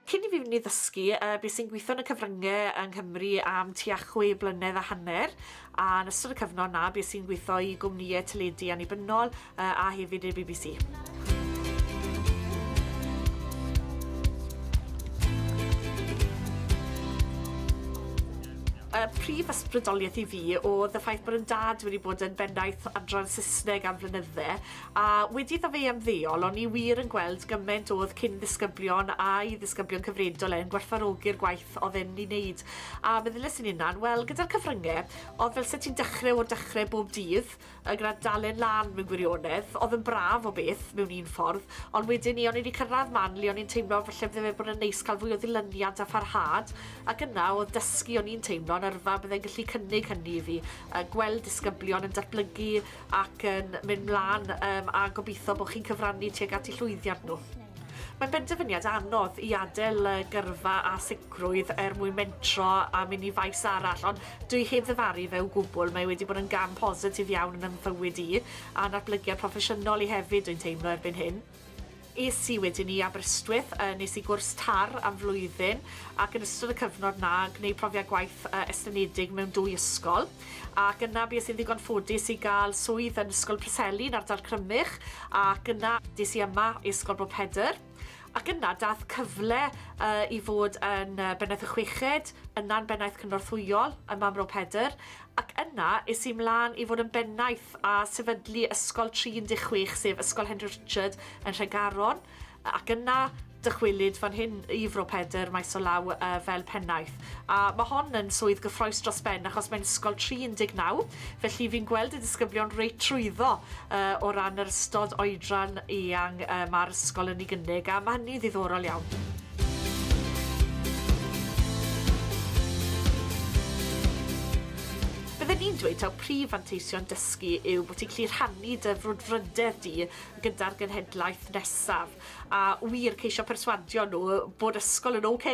Cyn i fi fynd i ddysgu uh, beth sy'n gweithio yn y cyfryngau yng Nghymru am tua chwe blynedd a hanner, a yn ystod y cyfnod na, beth sy'n gweithio i gwmnïau teledu annibynnol, a hefyd i'r bbc. y prif ysbrydoliaeth i fi oedd y ffaith bod yn dad wedi bod yn bennaeth adran Saesneg am flynydde, a wedi iddo fe ymddeol, o'n i wir yn gweld gymaint oedd cyn ddisgyblion a'i ddisgyblion cyfredol e'n gwerthfarogi'r gwaith oedd e'n ei wneud. A meddyles i'n unan, wel, gyda'r cyfryngau, oedd fel sut ti'n dechrau o'r dechrau bob dydd, y Grand Dalen lan mewn gwirionedd, oedd yn braf o beth, mewn un ffordd, ond wedyn ni o'n i wedi cyrraedd man le o'n i'n teimlo falle bydde fe bod yn neis cael fwy o ddilyniant a pharhad, ac yna oedd dysgu o'n i'n teimlo yn yrfa byddai'n gallu cynnig hynny i fi, yy gweld disgyblion yn datblygu ac yn mynd mlan yym a gobeithio bod chi'n cyfrannu tuag at 'u llwyddiant nhw. Mae'n benderfyniad anodd i adael y gyrfa â sicrwydd er mwyn mentro a mynd i faes arall, ond dwi heb ddyfaru fe o gwbl, mae wedi bod yn gam positif iawn yn fy mhywyd i, a natblygiad proffesiynol i hefyd dwi'n teimlo erbyn hyn. Es i wedyn i Aberystwyth, yy nes i gwrs tar am flwyddyn ac yn ystod y cyfnod 'na gwneud profiad gwaith yy estynedig mewn dwy ysgol. ac yna bues i'n ddigon ffodus i gael swydd yn Ysgol Preseli yn ardal Crymych ac yna des i yma i Ysgol Bro Pedr ac yna dath cyfle uh, i fod yn uh, Bennaeth y Chweched, yna'n Bennaeth Cynorthwyol ym Mamro Pedr ac yna es i mlaen i fod yn Bennaeth a sefydlu Ysgol 36 sef Ysgol Henry Richard yn Nhregaron Ac yna, dychwelyd fan hyn i Fro Pedr, maes o law yy fel pennaeth. A ma' hon yn swydd gyffrous dros ben achos mae'n ysgol tri 19, felly fi'n gweld y disgyblion reit trwyddo yy o ran yr ystod oedran eang yy ma'r ysgol yn ei gynnig, a ma' hynny'n ddiddorol iawn. Bydden i'n dweud taw prif fanteision dysgu yw bo' ti'n gallu rhannu dy frwdfrydedd di gyda'r genhedlaeth nesaf, a wir ceisio perswadio nhw bod ysgol yn ok,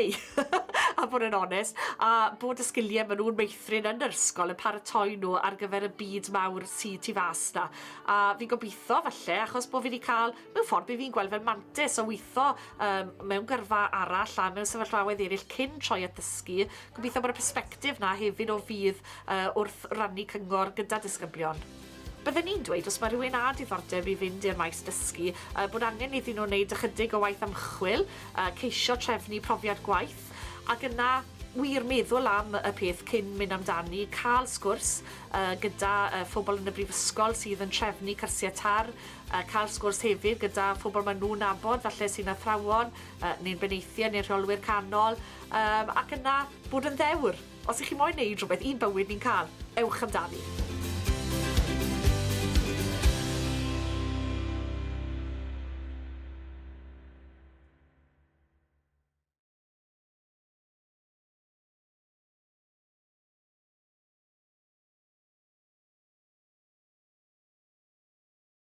a bod yn onest, a bod y sgiliau maen nhw'n meithrin yn yr ysgol yn paratoi nhw ar gyfer y byd mawr sydd tu fas na. A fi'n gobeithio, falle, achos bod fi wedi cael, mewn ffordd, be fi'n gweld fel mantis o weithio um, mewn gyrfa arall a mewn sefyllfaoedd eraill cyn troi at ddysgu, gobeithio bod y persbectif na hefyd o fydd uh, wrth rannu cyngor gyda disgyblion. Bydden i'n dweud os mae rhywun â diddordeb i fynd i'r maes dysgu, yy bod angen iddyn nhw wneud ychydig o waith ymchwil, yy ceisio trefnu profiad gwaith, ac yna wir meddwl am y peth cyn mynd amdani, cael sgwrs yy gyda yy phobl yn y brifysgol sydd yn trefnu cyrsiau TARR, yy cael sgwrs hefyd gyda phobl maen nhw'n nabod falle sy'n athrawon yy neu'n benaethiaid neu rheolwyr canol, yym ac yna bod yn ddewr. Os i chi moyn neud rhywbeth i'n bywyd ni'n cael, ewch amdani.